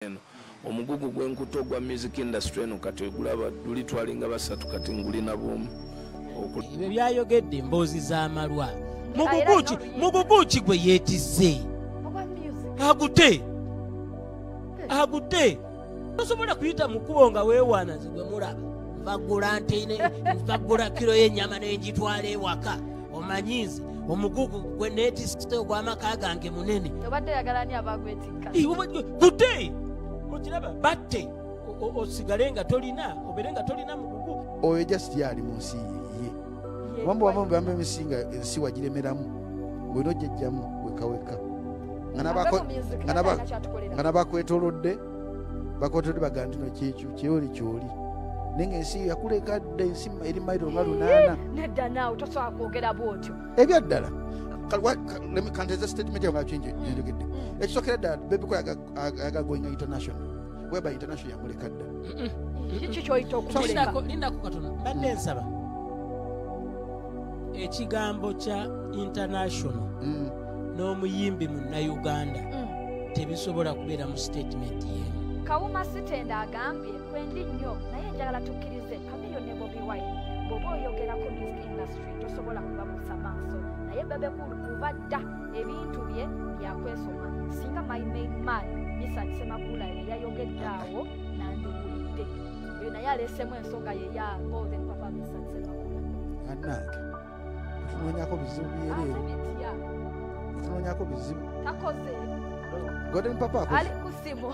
eno omugugu gwenkuto gwa music industry eno kati ogulaba luli twalinga basatu kati ngulina bwomu ebyo byayogedde emboozi z'amalwa muguguki muguguki gwe yeetise agute agute tosobola kuyita mu kkubo nga weewaana nze gwe mulaba nvagula nte nvagula kiro y'ennyama n'engitwala ewaka omanyi nze omugugu gwe neetisite ogw'amaka gange munene obadde yagalani abagwetikka kutte okiraba batte osigale nga tolina obeere nga tolina mugugu oyo just yaali mu nsi ye kubanga wava mu bamba emisi nga ensi wagiremeramu olina ojjajjamu wekaweka nga nabakwetolodde bakotode bagamba tino kyekyo kyoli kyoli naye ngaensi yakuleka dda ensi eri mairo nga lunaana nedda naawe tosobola kwogera bwotyo ebyaddala kanteze statement yawe ngakingi njogedde mm, mm. ekisokera ddala bebiko yagagoinga international weba international yamuleka dda kiki kyoyita okulindaku katona mbadde nsaba ekigambo kya international mm. n'omuyimbi munnayuganda mm. tebisobola kubeera mu sitatimenti yemu kawuma sitenda agambye kwendi nnyo naye njagala tukkirize kamiyo ne bobi wine bwoba oyogerako music industry tosobola kubabuusa maaso naye bebekulu kuba dda ebintu bye byakwesoma singa my main man misat semakula ye yayogedde awo nandiwulidde oyo naye aleesemu ensonga ye ya golden papa misat semakula tunoonyako bizibu byereere tunoonyako bizibu golden papa ali kusimu